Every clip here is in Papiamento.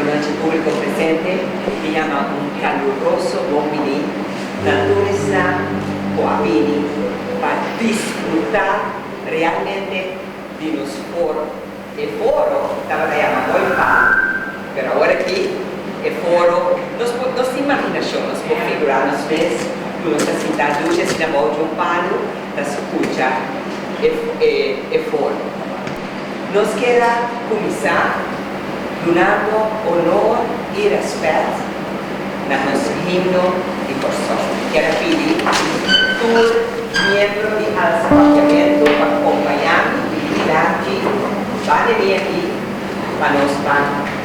Buenos nochi público presente, mi yama un caluroso bon biní. Naturisnan cu a bini pa disfruta realmente di nos foro. E foro tabata yama Mooi Paal, pero awor aki e foro, nos por, nos tin imaginacion, nos por figura nos mes cu nos ta sinta duchi asina bou di un palu ta scucha e, e, e foro. Nos kier a kuminsá dunando onor i rèspèt na nos himno di Kòrsou. Mi kier a pidi tur miembro di Alsa Papiamentu pa kompaña mi i Largi banda di aki pa nos ban.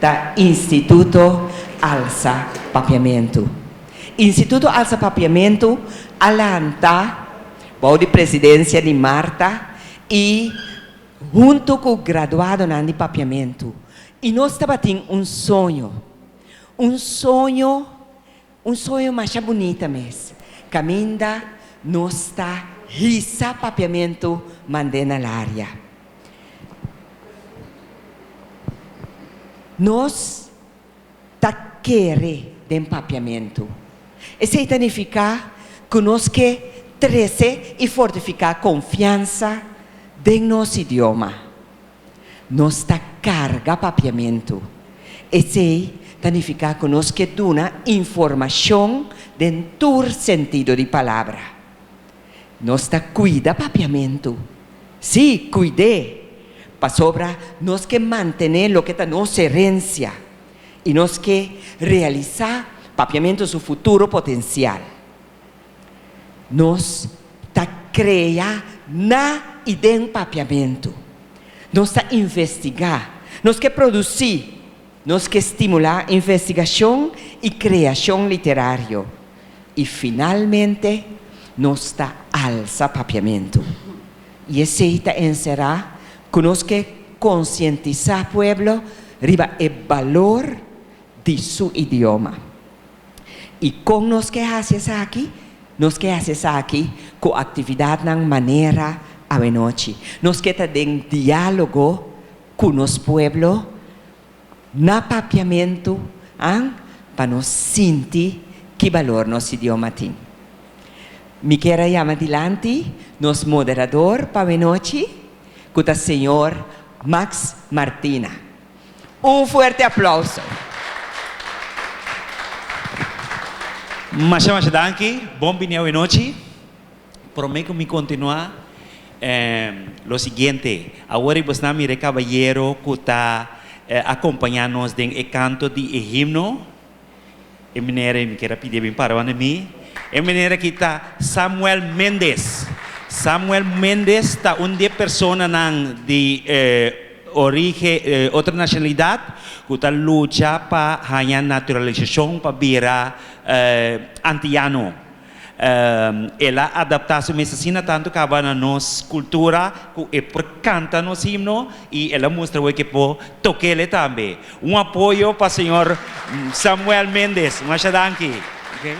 Ta Instituto Alsa Papiamentu. Instituto Alsa Papiamentu a lanta bou di presidencia di Marta y hunto cu graduadonan di Papiamentu y nos tabatin un soño, un soño. Un soño masha bunita mes. Caminda nos ta hisa papiamentu mand'e na laria. Nos ta kere den papiamentu. Esey ta nifica cu nos ke trece y fortifica confiansa den nos idioma. Nos ta karga papiamentu. Esei ta nifiká ku nos ke duna informashon den tur sentido di palabra. Nos ta kuida papiamentu. Sí, kuid'é! Pasobra nos ke mantené loke ta nos herensia i nos ke realisá papiamentu su futuro potensial. Nos ta krea na i den papiamentu. Nos ta investigá. Nos ke produsí. Nos ke stimulá investigashon i kreashon literario. I finalmente nos ta alsa papiamentu. I esei ta enserá ku nos ke konsientisá pueblo riba e balor di su idioma. I kon nos ke hasi esaki? Nos ke hasi esaki ku aktividatnan manera awenochi. Nos ke ta den diálogo ku nos pueblo na papiamentu, a, pa nos sinti ki balor nos idioma tin. Mi kier a yama dilanti nos moderador pa awenochi, ku ta señor Max Martina. Un fuerte aplauso. Masha masha danki, bon bini awenochi. Prome ku mi kontinua lo siguiente, awor i bo sna mira e kabayero ku ta akompaña nos den e kanto di e himno. E meneer ei mi kier a pidi e bin para wande mi. E meneer aki ta Samuel Mendes. Samuel Mendes ta un di e personanan di orige, otro nacionalidad, cu ta lucha pa haña naturalisacion pa bira antillano. El a adaptá su mes asina tantu kaba na nos kultura ku e por kanta nos himno i el a mustra bo ke por tok'é tambe. Un apoyo pa señor Samuel Méndez. Masha danki. Oke.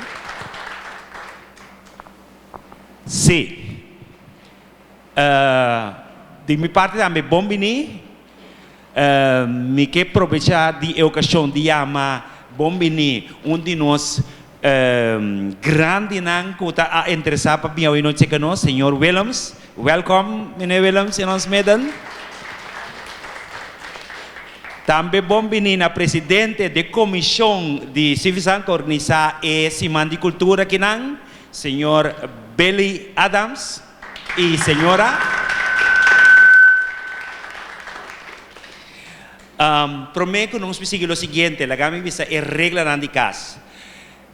Sí. Di mi parti tambe bon bini. Mi ke probecha di e okashon di yama bon bini un di nos grandinan ku ta a interesá pa bini awor no cheka nos, señor Willems. Welkom mene Willems in ons midden. Tambe bon bini na presidente di komishon di Civi Santo organisá e siman di kultura kinan Señor Billy Adams y Señora Prome cu nos mi sigui lo siguiente laga mi bisa e reglanan di cas.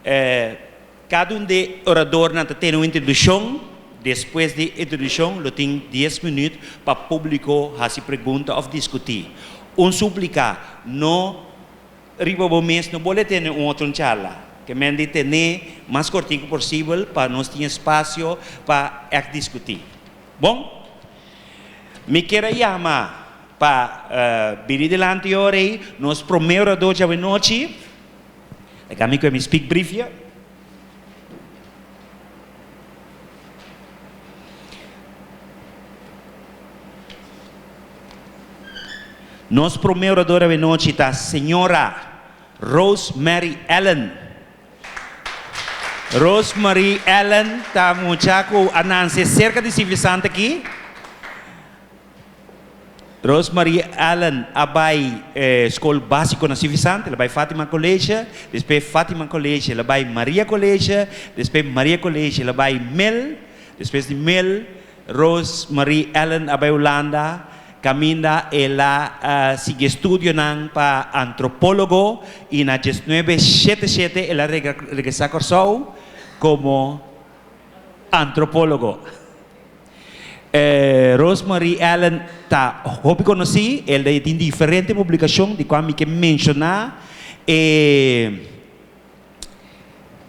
Cada un di oradornan ta tene un introduccion, despues di introduccion lo tin dies minuut pa publico haci pregunta of discuti. Un suplica, no. Riba bo mes no bole tene un otro charla. Ke men di tene mas kortiko posibel pa nos tin espasio pa èk diskutí. Bon, mi kier a yama pa bini dilanti ora ei nos promé oradó djab'e nochi. Laga mi kue mi spik brifje. Nos prome oradora avia nochi ta Señora Rose Mary Allen. Rose Mary Allen ta mucha cu a nanse cerca di Civilisanti aki. Rose Marie Allen a bai skol básiko na Sivisante, la bai Fátima College, despé Fátima College la bai Maria College, despé Maria College la bai Mil, despues di Mil Rose Marie Allen a bai Hulanda, kaminda e la sigui e studionan pa antropólogo i na diesnuebe shete shete e la regresá Kòrsou komo antropólogo. E Rosemarie Allen ta hopi conoci, el a tin diferente publicacion di cual mi ke menciona e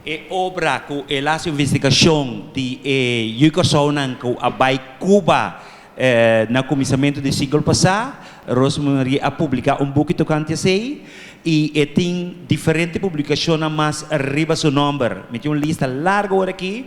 e obra cu el a haci investigacion di e yu Curaçaonan cu a bay Cuba na cuminsamentu di siglo pasa, Rosemarie a publica un buki tocante esey y e tin diferente publicacionnan mas riba su nomber, mi tin un lista largo ora aki.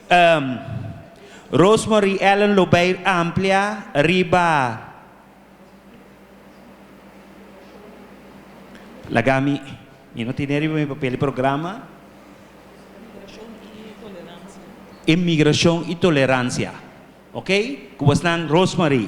Ehm. Rosemarie Ellen lo bay amplia riba Laga mi, mi no tene riba mi papel e programa. Inmigracion y tolerancia. Inmigracion y tolerancia. Ok, Cubasnan Rosemarie.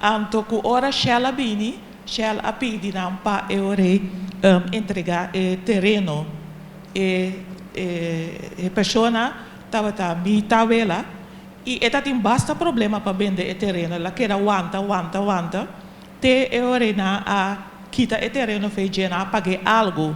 Anto ku ora Shell a bini, Shell a pidi nan pa eorei entregá e tereno. E e persona tabata mi tawela i e ta tin basta problema pa bende e tereno. El a keda wanta, wanta, wanta te eorei nan a kita e tereno fei dje nan a pag'é algu.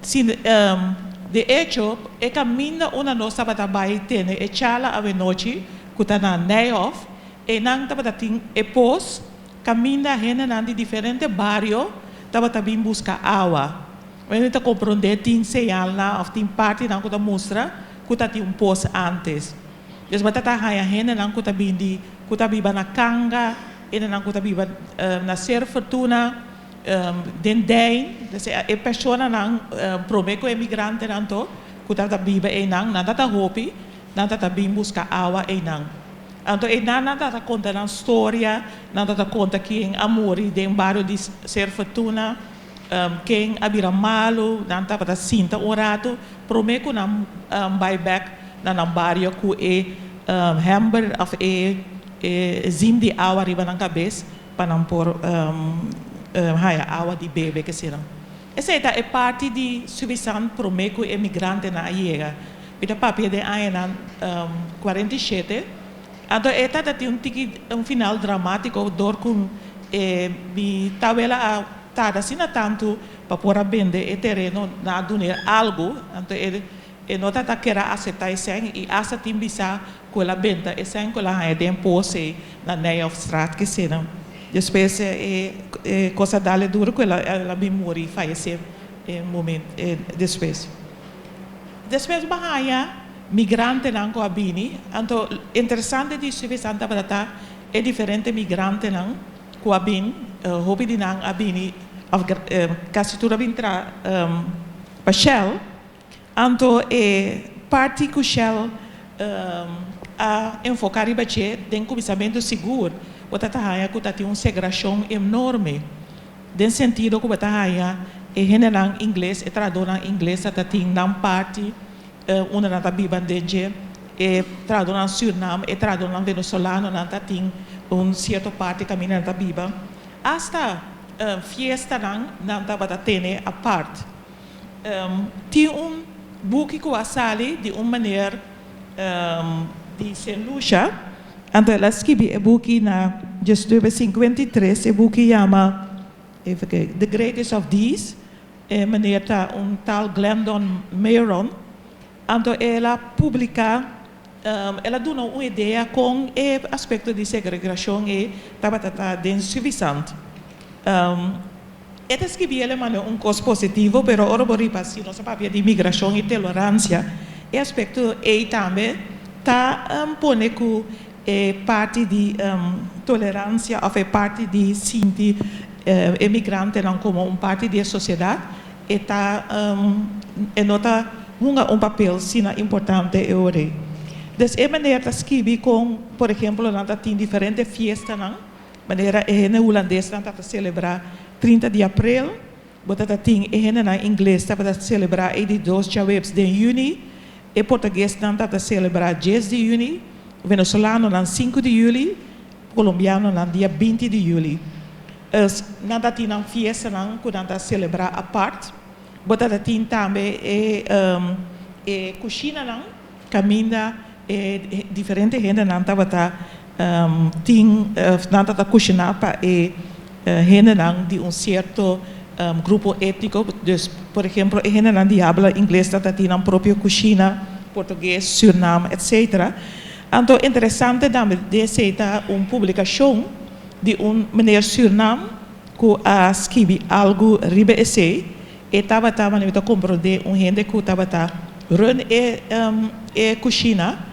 Si de echo e kaminda unda nos tabata bai tene e charla awe nochi ku ta na Nijhof, Enan tabata tin e pos, kaminda hendenan di diferente bario tabata bin buska awa. Wen mi ta komprondé tin señalnan òf tin partinan ku ta mustra ku ta tin un pos ántes. Dios bai trata haña hendenan ku ta bin di ku ta biba na kanga, hendenan ku ta biba na Ser Fortuna, den Dijn, esa e personanan promé ku e migrantenan to ku tabata biba einan. Nan tabata hopi Nan tata bin buska awa einan. Anto einan nan tata konta nan storia, nan tata konta ken a muri den bario di Ser Fortuna, ken a bira malu, nan tabata sinta un ratu prome ku nan bai bek na nan bario ku e hember of e zin di awa riba nan kabes pa nan por haya awa di bebe kesinan. Esei ta e parti di Suibisan prome ku e migrantenan a yega. Mi ta papia den añanan cuarenta y shete, anto e ta ta tin un tiki un final dramatico dor cu e mi tabuela a tarda asina tantu pa por a bende e tereno nan a duna el algo, anto e no ta ta kera acepta esey y hasta tin bisa cu el a benta esey cu el a haña den pose na Nijhoffstraat kesena. Despues e cosa dale duro cu el a bin muri, fallece un moment despues. Despues bo haña migrantenan ku a bini. Anto interesante di studio esnan tabata ta e diferente migrantenan ku a bin. Hopi di nan a bini, òf kasi tur a bin tra pa Shell. Anto e parti ku Shell a enfoká riba dje den kuminsamentu sigur bo ta ta haña ku ta tin un segrashon enorme. Den sentido ku bo ta haña e hendenan ingles, e trahadornan ingles a ta tin nan parti unda nan ta biba den dje, e trahadornan Surinam, e trahadornan Venezolano nan ta tin un sierto parti kaminda nan ta biba. Hasta fiestanan nan tabata tene apart. Tin un buki ku a sali di un meneer. di Saint Lucia, anto el a skibi e buki na diecinuebe sinkuenta i tres, e buki yama The Greatest of These, e meneer ta un tal Glendon Mayron, anto el a publika, el a duna un idea kon e aspekto di segregrashon ei tabata ta den Suvisant. E ta skibí el Emanuel un kos positivo, pero ora bo riba si nos a papia di migrashon i teloransia, e aspekto ei tambe ta pone ku e parti di toleransia òf e parti di sinti e migrantenan komo un parti di e sosiedat, e ta e no ta hunga un papel sina importante e ora ei. Des e manera ta skibí kon, por ehemplo, nan ta tin diferente fiestanan. Manera e hende hulandesnan tabata selebrá trinta di aprel, bo ta ta tin e hendenan ingles tabata selebrá ei di dos djaweps den yüni, e portaguesnan tabata selebrá djes di yüni, venezolanonan sinku di yüli, kolombianonan dia binti di yüli. Is nan ta tin nan fiestanan ku nan ta selebrá apart. Bo ta ta tin tambe e kushinanan. Caminda e diferente hendenan tabata tin, nan tata cushina pa e hendenan di un cierto grupo etnico, dus por ehemplo e hendenan di habla ingles tata tin nan propio cushina, portugues, Suriname, etc. Anto interesante tambe dese ta un publicacion di un meneer Suriname cu a skibi algu riba esey. E tabata manera mi ta compro de un hende cu tabata run e cushina.